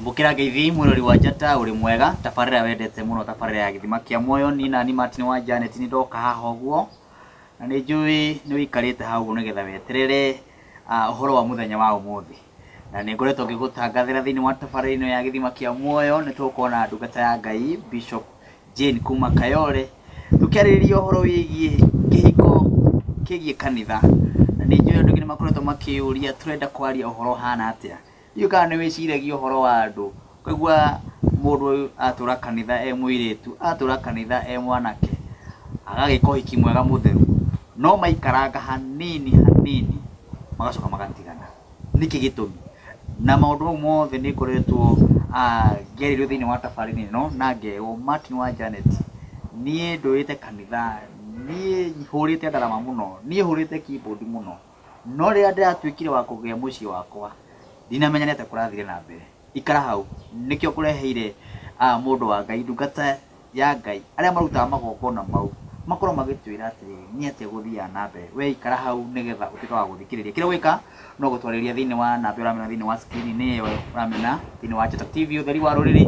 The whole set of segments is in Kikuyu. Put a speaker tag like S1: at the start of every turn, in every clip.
S1: Mbũkĩra Ngeithi, mwĩrori wa njata, ũrĩ mwega? Tabarĩra wendete mũno, tabarĩra ya gĩthima kĩa muoyo. Niĩ nani Martin wa Janet nĩ ndoka haha ũguo, na nĩ njũĩ nĩ ũikarĩte haha ũguo nĩgetha weterere ah, ũhoro wa mũthenya wa ũmũthĩ. Na nĩ ngoretwo ngĩgũtangathĩra thĩinĩ wa tabarĩra ĩno ya gĩthima kĩa muoyo, nĩ tũgũkorwo na ndungata ya Ngai Bishop Jane kuma Kayole, tũkĩarĩrĩria ũhoro wĩgiĩ kĩhiko kĩgiĩ kanitha. Na nĩ njũĩ andũ aingĩ nĩ makoretwo makĩyũria, tũrenda kwaria ũhoro ũhana atĩa? Ndiũĩ kana nĩ wĩciragia ũhoro wa andũ. Ũkaigua mũndũ atũra kanitha e mũirĩtu, atũra kanitha e mwanake, agagĩka ũhiki mwega mũtheru, no maikaranga hanini hanini magacoka magatigana. Nĩkĩ gĩtũmi? Na maũndũ mau mothe nĩ ngoretwo ngereirwo thĩinĩ wa tabarĩra ĩno na ngerwo Martin wa Janet, niĩ ndũrĩte kanitha, niĩ hũrĩte ndarama mũno, niĩ hũrĩte keyboard mũno. No rĩrĩa ndĩratuĩkire wa kũgĩa mũciĩ wakwa, ndinamenya nĩ atĩa kũrathire na mbere. Ikara hau. Nĩkĩo ngũreheire ah, mũndũ wa Ngai, ndungata ya Ngai, arĩa marutaga magongona mau, makorwo magĩtwĩra atĩrĩ, nĩ atĩa gũthiaga na mbere. Wee ikara hau nĩgetha ũtuĩke wa gũthikĩrĩria. Kĩrĩa ũgwĩka no gũtwarĩria thĩinĩ wa namba ĩyo ũramĩona thĩinĩ wa screen nĩ ĩyo ũramĩona thĩinĩ wa Njata TV, ũtheri wa rũrĩrĩ,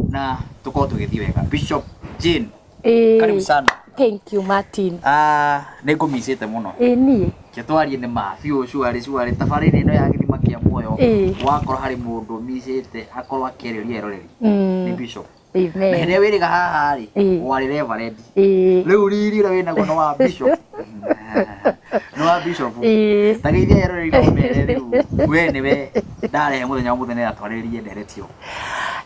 S1: na tũkorwo tũgĩthiĩ wega. Bishop Jane. Ĩĩ. Karibu sana. Thank you Martin.
S2: Ah, nĩ ngũmicĩte
S1: mũno. Ĩĩ niĩ. Ke twarie
S2: nĩ ma
S1: biũ cuarĩ cuarĩ tabarĩra ĩno ya gĩthima kĩa muoyo. Ĩĩ. Wakorwo harĩ mũndũ ũmicĩte akorwo akĩarĩria eroreri. Mm. Nĩ Bishop. Na Amen. hĩndĩ wĩrĩga
S2: haha
S1: rĩ, Ĩĩ. warĩ Reverend. Ĩĩ. Rĩu riri ũrĩa wĩnaguo nĩ wa Bishop. Nĩ wa Bishop. Ĩĩ. Tageithia eroreri na ũmere rĩu we nĩ we ndarehe mũthenya wa mũthenya atwarĩrie nderetio.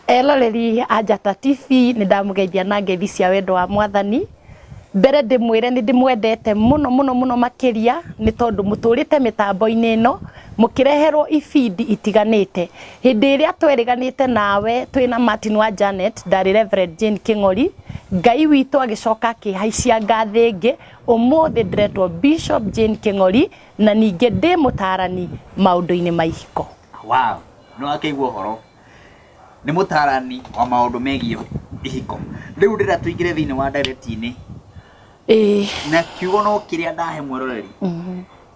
S1: Eroreri
S2: a Njata TV nĩ ndamũgeithia na ngeithi cia wendo wa mwathani. Mbere ndĩmwĩre nĩ ndĩmwendete mũno mũno mũno makĩria nĩ tondũ mũtũrĩte mĩtambo-inĩ ĩno mũkĩreherwo ibindi itiganĩte. Hĩndĩ ĩrĩa twerĩganĩte nawe twĩ na Martin wa Janet ndarĩ Rev. Jane Kĩng'ori, Ngai witũ agĩcoka akĩhaicia ngathĩ ĩngĩ, ũmũthĩ ndĩretwo Bishop Jane Kĩng'ori na ningĩ ndĩ mũtaarani maũndũ-inĩ ma ihiko. Wow!
S1: nĩ wakĩigua ũhoro nĩ mũtarani wa maũndũ megiĩ ihiko rĩu ndĩra tũingĩre thĩinĩ wa ndereti-inĩ ĩĩ na kiugo no kĩrĩa ndahe mweroreri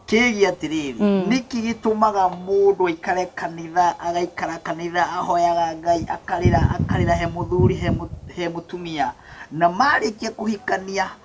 S1: kĩgiĩ atĩrĩrĩ nĩkĩ gĩtũmaga mũndũ aikare kanitha agaikara kanitha ahoyaga ngai akarĩra akarĩra he mũthuri he mũ- he mũtumia na marĩkia kũhikania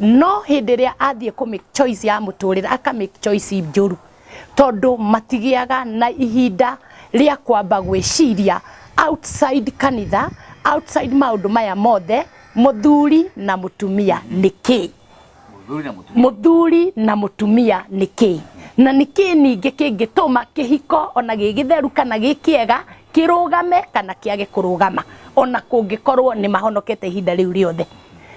S2: no hĩndĩ ĩrĩa athiĩ kũ make choice ya mũtũrĩre aka make choice njũru tondũ matigĩaga na ihinda rĩa kwamba gwĩciria outside kanitha outside maũndũ maya mothe mũthuri na mũtumia nĩ kĩĩ Mũthuri na mũtumia. mũthuri na mũtumia nĩ kĩĩ na nĩ kĩĩ ningĩ kĩngĩtũma kĩhiko ona gĩ gĩtheru kana gĩ kĩega kĩrũgame kana kĩage kũrũgama ona kũngĩkorwo nĩ mahonokete ihinda rĩu rĩothe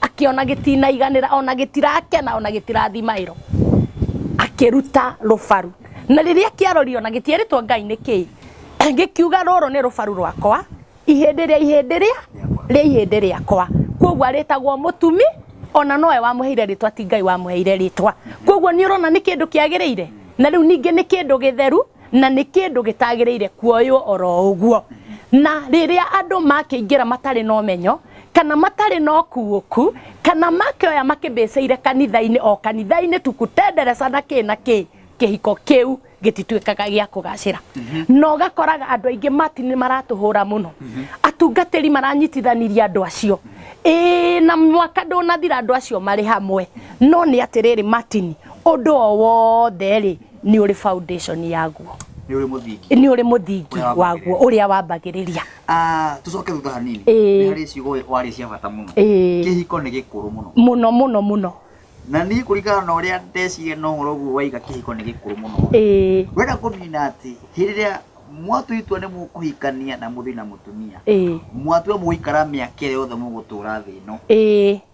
S2: akĩona gĩtinaiganĩra ona gĩtirakena ona gĩtirathiĩ maĩro akĩruta rũbaru na rĩrĩa kĩarorire ona gĩtierĩtwo ngai nĩ kĩĩ gĩkiuga rũrũ nĩ rũbaru rwakwa ihĩndĩ rĩa ihĩndĩ rĩa rĩa ihĩndĩ rĩakwa kwoguo arĩtagwo mũtumi ona nowe wamũheire rĩtwa ti ngai wamũheire rĩtwa kwoguo nĩ ũrona nĩ kĩndũ kĩagĩrĩire na rĩu ningĩ nĩ kĩndũ gĩtheru na nĩ kĩndũ gĩtagĩrĩire kuoywo oro ũguo na rĩrĩa andũ makĩingĩra matarĩ na ũmenyo kana matarĩ na ũkuũku kana makĩoya makĩmbĩcĩire kanitha-inĩ o kanitha-inĩ tu kũtendereca na kĩ na kĩ kĩhiko kĩu gĩtituĩkaga gĩa kũgacĩra na ũgakoraga andũ aingĩ mati nĩ maratũhũra mũno atungatĩri maranyitithaniria andũ acio ĩĩ na mwaka ndũnathira andũ acio marĩ hamwe no nĩ atĩrĩrĩ matini ũndũ o wothe rĩ nĩ ũrĩ foundation yaguo nĩ ũrĩ mũthingi nĩ ũrĩ mũthingi Ũrĩa waguo ũrĩa wambagĩrĩria Ah, tũcoke
S1: thutha hanini Ĩĩ. nĩ harĩ ciugo warĩ cia bata mũno Ĩĩ. kĩhiko nĩ gĩkũrũ mũno mũno mũno mũno
S2: na niĩ
S1: kũringana na ũrĩa ndeciria na ũhoro ũguo waiga kĩhiko nĩ gĩkũrũ mũno Ĩĩ. wenda kũmina atĩ hĩndĩ ĩrĩa mwatua itua nĩ mũkũhikania na mũthĩ na mũtumia Ĩĩ. mwatua mũgũikara mĩaka ĩrĩa yothe mũgũtũra thĩ ĩno Ĩĩ.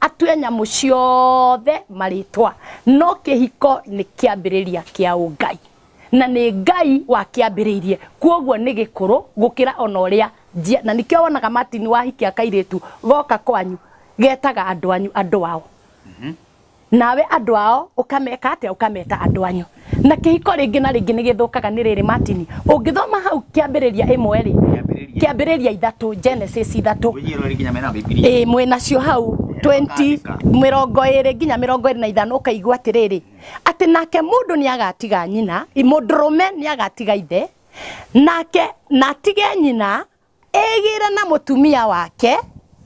S2: atue nyamũ ciothe marĩtwa no kĩhiko nĩ kĩambĩrĩria kĩa ũngai na nĩ ngai wakĩambĩrĩirie kwoguo nĩ gĩkũrũ gũkĩra ona ũrĩa njia na nĩkĩo wonaga martin wahikia kairĩtu goka kwanyu getaga andũ anyu andũ ao nawe andũ ao ũkameka atĩa ũkameta andũ anyu na kĩhiko rĩngĩ na rĩngĩ nĩ gĩthũkaga nĩ rĩrĩ matini ũngĩthoma hau kĩambĩrĩria ĩmwe rĩ Kĩambĩrĩria. kĩambĩrĩria ithatũ genesis ithatũ Ũnyi ĩno rĩ nginya mena Bibilia. ĩĩ mwĩnacio hau 20 Ũkandĩka. mĩrongo ĩrĩ nginya mĩrongo ĩrĩ na ithano ũkaigua atĩrĩrĩ atĩ nake mũndũ nĩ agatiga nyina mũndũrũme nĩ agatiga ithe nake na atige nyina Egĩre na mũtumia wake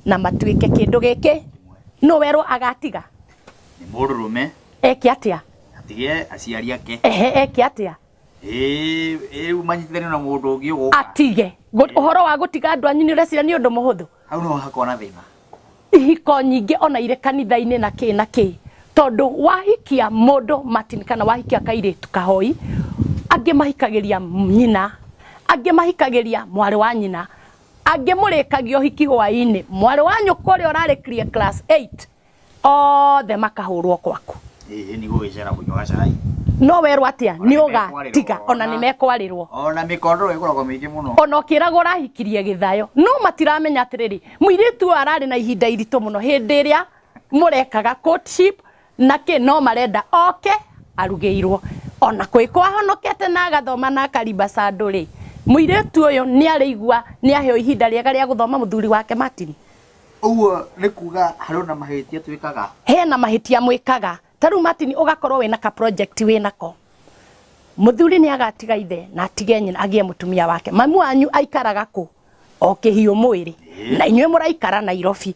S2: na matuĩke kĩndũ gĩkĩ. Nũ werwo agatiga? Nĩ
S1: mũrũrũme. Eke atĩa?
S2: Atige aciari
S1: ake. Ehe, eke atĩa?
S2: Ĩĩ, rĩu manyitithanio
S1: na mũndũ ũngĩ ũgũka. Atige. Ũhoro
S2: wa gũtiga andũ anyu nĩ ũreciria nĩ ũndũ mũhũthũ? Hau nĩho hakoragwo na
S1: thĩna. ihiko
S2: nyingĩ ona irĩ kanitha-inĩ na kĩ na kĩ tondũ wahikia mũndũ Martin kana wahikia kairĩtu kahoi angĩ mahikagĩria nyina angĩ mahikagĩria mwarĩ wa nyina angĩ mũrĩkagia ũhiki hwaĩ-inĩ mwarĩ wa nyũkwa ũrĩa ũrarĩkirie class 8 othe makahũrwo kwaku Hihi nĩ gũgĩcera
S1: kũnyuaga cai. no werwo atia
S2: nĩ ũgatiga ona nĩ mekwarĩrwo Ona mĩkondoro
S1: ĩkoragwo mĩingĩ mũno. ona ũkĩragwo ũrahikirie
S2: gĩthayo no matiramenya atĩrĩrĩ mũirĩtu ũyũ ararĩ na ihinda iritũ mũno hĩndĩ ĩrĩa mũrekaga courtship na kĩ no marenda oke arugĩirwo ona kwĩ kwahonokete na agathoma na akarimba sandũ rĩ mũirĩtu ũyũ nĩ arĩigua nĩ aheo ihinda rĩega rĩa gũthoma mũthuri wake Martin Ũguo
S1: nĩ kuga harĩ ona mahĩtia twĩkaga? Hena mahĩtia
S2: mwĩkaga. Ta rĩu Martin ũgakorwo wĩna ka project wĩnako. Mũthuri nĩ agatiga ithe na atige nyina agĩe mũtumia wake. Mamu wanyu aikaraga kũ? O kĩhiũ mwĩrĩ. Na inyuĩ mũraikara Nairobi.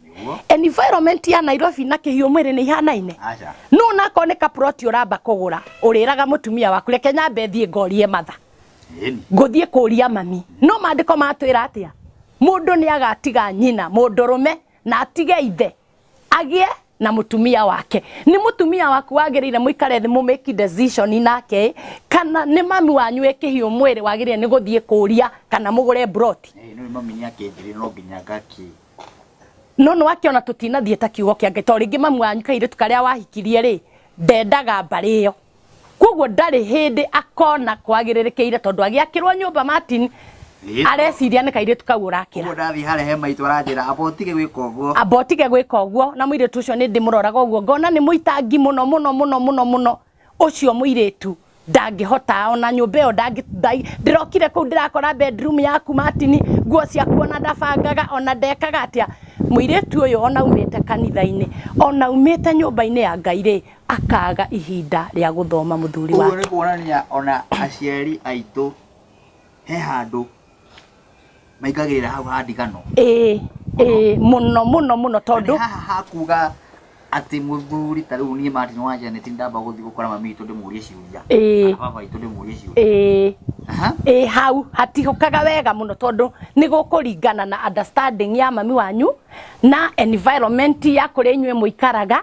S2: Environment ya Nairobi na kĩhiũ mwĩrĩ nĩ ihanaine? Aca. No onakorwo nĩ ka plot ũramba kũgũra, ũrĩraga mũtumia waku reke nyambe thiĩ ngorie matha. Ĩni. ngũthiĩ kũria mami no maandĩko matwĩra atĩa mũndũ nĩ agatiga nyina mũndũrũme na atige ithe agĩe na mũtumia wake nĩ mũtumia waku wagĩrĩire mũikare thĩ mũ make decision nake ĩ, kana nĩ mami wanyu wĩ kĩhiũ mwĩrĩ wagĩrĩire nĩ gũthiĩ kũria kana mũgũre broti Ĩĩ, nĩũĩ mami nĩ akĩnjĩrĩire
S1: no nginya ngakĩ. no
S2: nĩ wakĩona tũtinathiĩ ta kiugo kĩa ngai to rĩngĩ mami wanyu kairĩtu karĩa wahikirie rĩ ndendaga mbarĩ ĩyo koguo ndarĩ hĩndĩ akona kwagĩrĩrĩkĩire tondũ agĩakĩrwo nyũmba martin Ĩĩ. areciria nĩ kairĩtu kau ũrakĩra Ũguo ndathiĩ harĩa he maitũ
S1: aranjĩra amba ũtige gwĩka ũguo. amba ũtige gwĩka ũguo na mũirĩtu ũcio nĩ ndĩmũroraga ũguo ngona nĩ mũitangi mũno mũno mũno mũno mũno ũcio mũirĩtu ndangĩhota ona nyũmba ĩyo ndangĩ- ndai- ndĩrokire kũu ndĩrakora bedroom yaku matini nguo ciaku ona ndabangaga ona ndekaga atĩa mũirĩtu ũyũ ona umĩte kanitha-inĩ ona umĩte nyũmba-inĩ ya ngai rĩ akaaga ihinda rĩa gũthoma mũthuri Ũguo nĩ wake. kuonania o na aciari aitũ he handũ maingagĩrĩra hau ha ndigano. Ĩĩ, ĩĩ, mũno mũno mũno Nĩ tondũ haha ha kuga atĩ mũthuri ta rĩu niĩ Martin wa Janet nĩ ndamba gũthiĩ gũkora mami witũ ndĩmũrie ciũria. Ĩĩ. Kana baba witũ ndĩmũrie ciũria. ĩĩ Aha. ĩĩ hau
S2: hatihũkaga wega mũno tondũ nĩ gũkũringana na understanding ya mami wanyu na environment ya kũrĩa inyuĩ mũikaraga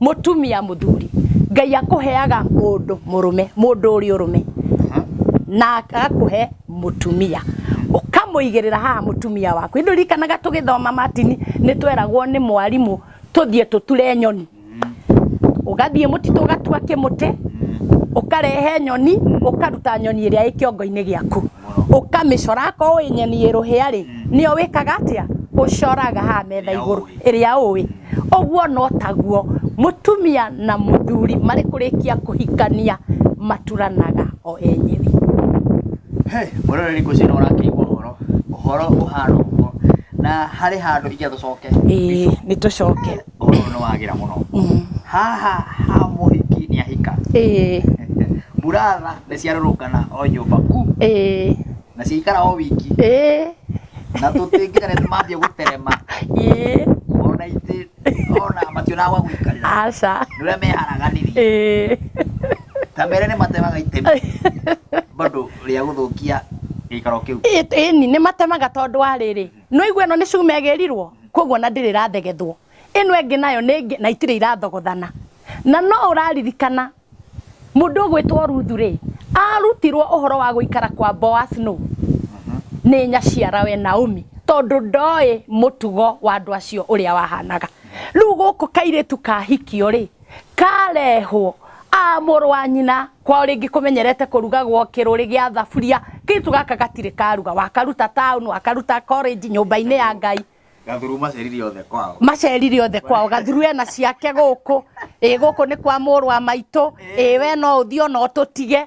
S2: Mũtumia mũthuri, Ngai akũheaga mũndũ mũrũme, mũndũ ũrĩ ũrũme, na agakũhe mũtumia, ũkamũigĩrĩra haha mũtumia waku. Nĩ ũririkanaga tũgĩthoma matini, nĩ tweragwo nĩ mwarimũ tũthiĩ tũture nyoni. Ũgathiĩ mũtitũ ũgatua kĩmũtĩ, ũkarehe nyoni, ũkaruta nyoni ĩrĩa ĩ kĩongo-inĩ gĩaku. ũkamĩcora akorwo ũĩ nyeni ĩ rũhĩa rĩ nĩyo wĩkaga atĩa ũcoraga haha metha igũrũ ĩrĩa ũĩ ũguo no taguo mũtumia na mũthuri marĩ kũrĩkia kũhikania maturanaga o enyewe
S1: mũroreri ngwĩciria nĩ ũrakĩigua ũhoro ũhoro ũhana ũguo na harĩ handũ ingĩenda tũcoke ĩĩ nĩ
S2: tũcoke ũhoro ũyũ nĩ wagĩra
S1: mũno haha ha mũhiki nĩ ahika ĩĩ mburatha nĩ ciarũrũngana o nyũmba ku ĩĩ na ciaikara o wiki ĩĩ na tũtingĩra nĩ mambia gũterema ĩĩ ona itĩ ona mationaga gwa gũikarĩra aca nĩ ũrĩa
S2: meharaganirie
S1: ĩĩ ta mere nĩ matemaga itemi bado rĩa gũthũkia gĩikaro kĩu Ĩ- ĩni nĩ matemaga
S2: tondũ wa rĩrĩ no igua ĩno nĩ cuma ĩgĩrirwo koguo na ndĩrĩ ĩrathegethwo ĩno ĩngĩ nayo nĩ ĩngĩ na itirĩ irathogothana na no ũraririkana mũndũ ũgwĩtwo ruthu rĩ arutirwo ũhoro wa gũikara kwa boas nũ nĩ nyaciara we naomi tondũ ndoĩ mũtugo wa andũ acio ũrĩa wahanaga rĩu gũkũ kairĩtu kahikio rĩ karehwo a mũrũ wa nyina kwao rĩngĩ kũmenyerete kũrugagwo kĩrũrĩ gĩa thaburia kĩtu gaka gatirĩ karuga wakaruta town wakaruta college nyũmba-inĩ ya ngai gathuru macerire
S1: othe kwao macerire othe kwao gathuru ena ciake gũkũ ĩ gũkũ nĩ kwa mũrũ wa maitũ ĩ we no ũthiĩ ona ũtũtige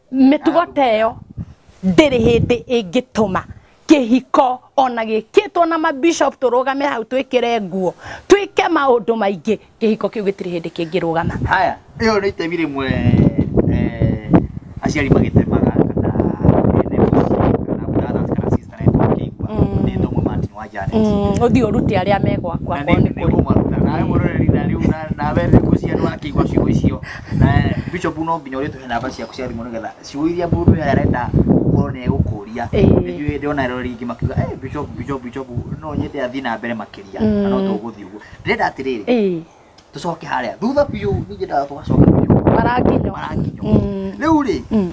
S2: mĩtugo ta ĩyo ndĩrĩ hĩndĩ ĩngĩtũma kĩhiko ona gĩkĩtwo na mabishop tũrũgame hau twĩkĩre nguo twĩke maũndũ maingĩ kĩhiko kĩu gĩtirĩ hĩndĩ kĩngĩrũgama haya ĩyo nĩ
S1: itemi rĩmwe eh, aciari magĩtemaga kana ene mũciĩ, kana brothers, kana sisters. Arenda kũigua. Nĩ thoma Martin wa Janet. Mm, ũthiĩ ũrute arĩa me
S2: gwakwa Na korwo nĩ nĩ nĩ kũrĩ kũmaruta.
S1: Nawe mũroreri na rĩu na- nawe nĩ gũcia nĩ wakĩigua ciugo icio. Na Bishop no nginya ũrĩtũhe namba ciaku cia thimũ nĩgetha ciugo iria mũndũ ũyũ arenda gũkorwo nĩ egũkũria. Ĩĩ. Nĩnjũĩ ndĩrona aroreri aingĩ makiuga, "Eh, Bishop, Bishop, Bishop, no nyende athiĩ na mbere makĩria." Na no Mm. tũgũthiĩ ũguo. Ndĩrenda atĩrĩrĩ, ĩĩ tũcoke harĩa thutha biũ nĩnyendaga tũgacoka biũ maranginyo maranginyo
S2: Mm. rĩu
S1: rĩ Mm.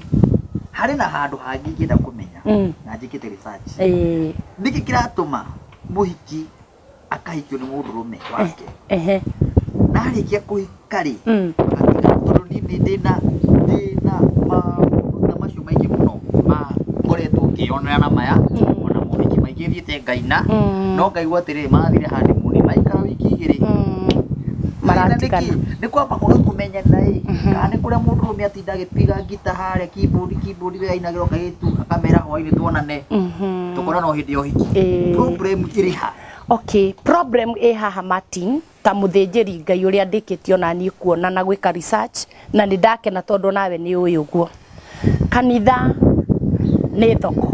S1: harĩ na handũ hangĩ ingĩenda kũmenya Mm. na njĩkĩte research Eh, nĩkĩ kĩratũma mũhiki akahikio nĩ mũndũ rũme wake ehe na arĩkia kũhika rĩ Mm. agatuĩka- tondũ niĩ nĩ ndĩna ndĩna maũndũ ta macio maingĩ mũno makoretwo ngĩyonera na maya ona mohiki maingĩ thiĩte ngaina Mm. no ngaigua atĩrĩ mathire handũ mũni maikara wiki igĩrĩ Mm. Marenda Maratigana. nĩkĩ? nĩ kwamba kũga kũmenyana ĩ kana nĩ kũrĩa mũndũ ũrũme atinda agĩtiga ngita harĩa kibũndi kibũndi we ainagĩrwo kairĩtu akamera hwainĩ tuonane Mhm. tũkorana o hĩndĩ ya ũhiki Ĩĩ. problem ĩrĩ ha Okay,
S2: problem ĩ haha Martin, ta mũthĩnjĩri Ngai ũrĩa ndĩkĩtie ona niĩ kuona na gwĩka research na nĩ ndakena tondũ nawe nĩ ũĩ ũguo. Kanitha nĩ thoko,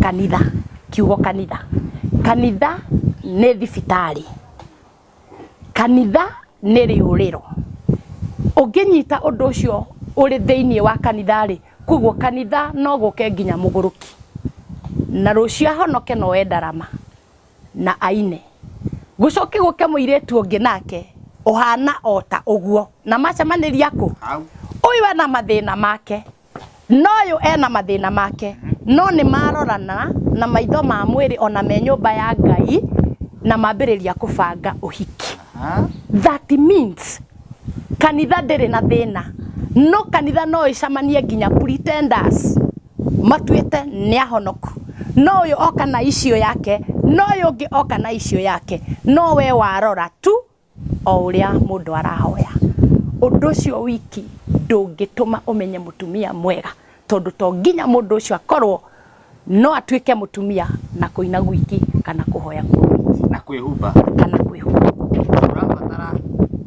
S2: kanitha, kiugo kanitha. Kanitha nĩ thibitarĩ, kanitha nĩ rĩũrĩro. Ũngĩnyita ũndũ ũcio ũrĩ thĩinĩ wa kanitha rĩ, koguo kanitha no gũke nginya mũgũrũki na rũciũ ahonoke na oe ndarama. na aine. Gũcoke gũke mũirĩtu ũngĩ nake ũhana o ta ũguo, na macemanĩria kũ? Hau. Ũyũ ena mathĩna make, na ũyũ ena mathĩna make, no nĩ marorana na maitho ma mwĩrĩ ona me nyũmba ya Ngai na mambĩrĩria kũbanga ũhiki. Ha? That means kanitha ndĩrĩ na thĩna, no kanitha no ĩcamanie nginya pretenders matuĩte nĩ ahonoku. No ũyũ oka na icio yake, no ũyũ ũngĩ oka na icio yake, no we warora tu o ũrĩa mũndũ arahoya. Ũndũ ũcio wiki ndũngĩtũma ũmenye mũtumia mwega, tondũ to nginya mũndũ ũcio akorwo no atuĩke mũtumia na kũina gwiki kana kũhoya kwa wiki. Na kwĩhumba.
S1: Kana
S2: kwĩhumba. Ũrabatara